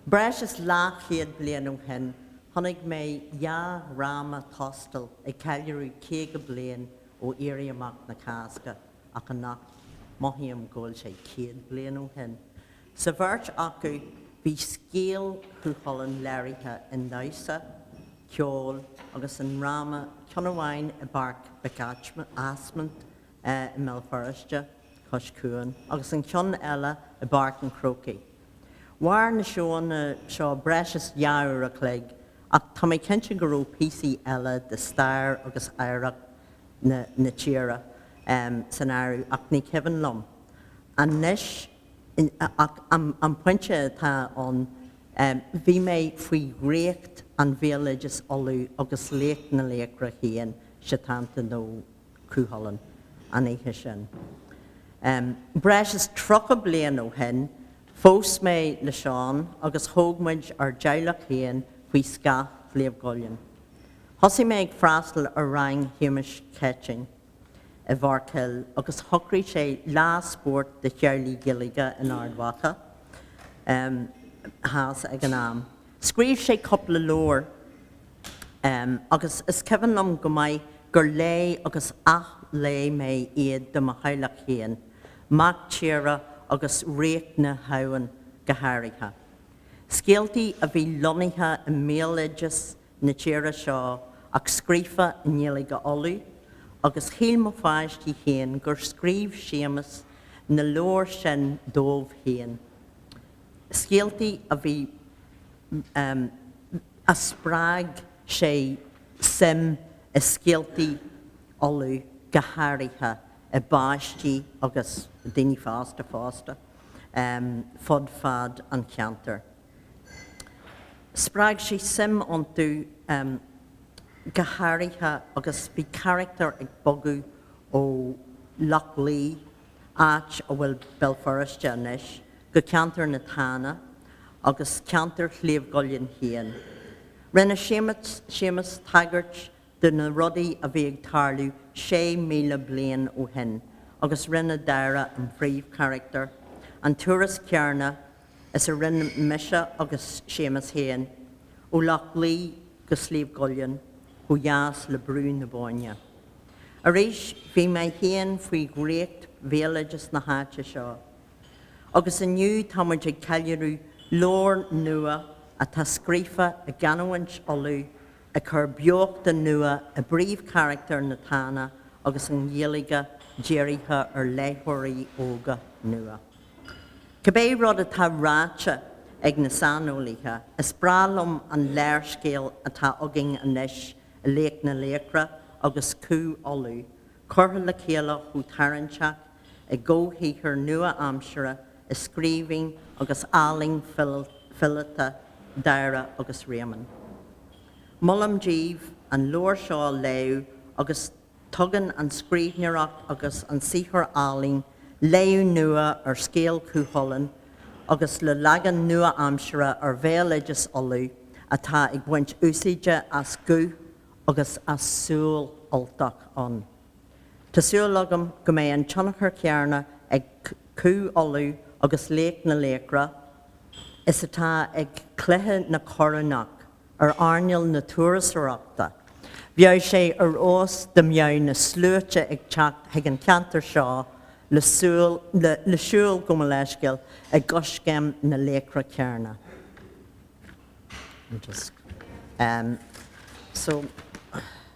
Breis is leathchéad bliain ó shin, chonaic mé dhá dhráma tóstail ag ceiliúradh caoga bliain ó Éirí Amach na Cásca, ach anocht, mothaím go bhfuil sé céad bliain ó shin. Sa bheirt acu, bhí scéal Chú Chulainn léirithe i ndamhsa, ceol agus i ndráma ceann amháin i bPáirc Mhic Ásmaint i mBéal Feirste cois cuain agus an ceann eile i bPáirc an Chrócaigh. Mhair na seóanna seo breis is dhá uair a chloig ach tá mé cinnte go raibh píosaí eile de stair agus oidhreacht na tíre san áireamh ach ní cuimhin liom anois Ach an pointe atá ann, bhí mé faoi dhraíocht an bhéaloidis Uladh agus laoch na laochra féin, Setanta nó Cú Chulainn, an oíche sin. Breis is tríocha bliain ó shin, phós mé le Seán agus thóg muid ár dteaghlach féin faoi scáth Shliabh gCuillinn. Thosaigh mé ag freastal ar rang Shéamuis Céitinn. i bhFoirceal agus shocraigh sé lá spóirt do theaghlaigh Gaeilge in Ard Mhacha theas ag an am. Scríobh sé cúpla leabhar agus is cuimhin liom go maith gur léigh agus ath-léigh mé iad do mo theaghlach féin, Mac Tíre agus Ríocht na hAbhann go háirithe. Scéaltaí a bhí lonnaithe i mbéaloideas na tíre seo ach scríofa i nGaeilge Uladh agus shíl mo pháistí féin gur scríobh Séamus na leabhair sin dóibh féin. Scéaltaí a bhí, em, a spreag sé suim i scéaltaí Uladh go háirithe i bpáistí agus daoine fásta fosta, em, fud fad an cheantair. Spreag sé suim iontu go háirithe agus bhí carachtair ag bogadh ó Loch Lao, áit a bhfuil Béal Feirste anois, go ceantar na Tána agus ceantar Shliabh gCuillinn féin. Rinne Séamus tagairt do na rudaí a bhí ag tarlú 6,000 bliain ó shin agus rinne Dáire, an phríomhcharachtar, an turas céanna is a rinne mise agus Séamus féin, ó Loch Lao go Sliabh gCuillinn ó dheas go Brú na Bóinne. Arís, bhí mé féin faoi dhraíocht béaloideas na háite seo, agus inniu tá muid ag ceiliúradh leabhar nua atá scríofa i gcanúint Uladh ag cur beochta nua i bpríomhcharactair na Tána agus an Ghaeilge dírithe ar léitheoirí óga nua. Cibé rud atá ráite ag na saineolaithe, is breá liom an léarscéal atá againn anois i Laoch na Laochra agus Cú Uladh curtha le chéile chomh tarraingteach i gcomhshaothar nua-aimsire i scríbhinn agus ealaín fileata Dáire agus Réamonn. Molaim díbh an leabhar seo a léamh agus. Tugann an scríbhneoireacht agus an saothar ealaíne léamh nua ar scéal Chú Chulainn agus le leagan nua-aimsire ar bhéaloideas Uladh atá ag baint úsáide as guth agus as súil Ultach ann. Tá súil agam go mbeidh an tionchar céanna ag Cú Uladh agus Laoch na Laochra is atá ag Cluiche na Corónach. ar earnáil na turasóireachta. Bheadh sé ar fheabhas dá mbeadh na sluaite ag teacht chuig an cheantar seo le siúl go Moleskill i gcoiscéim na laochra céanna.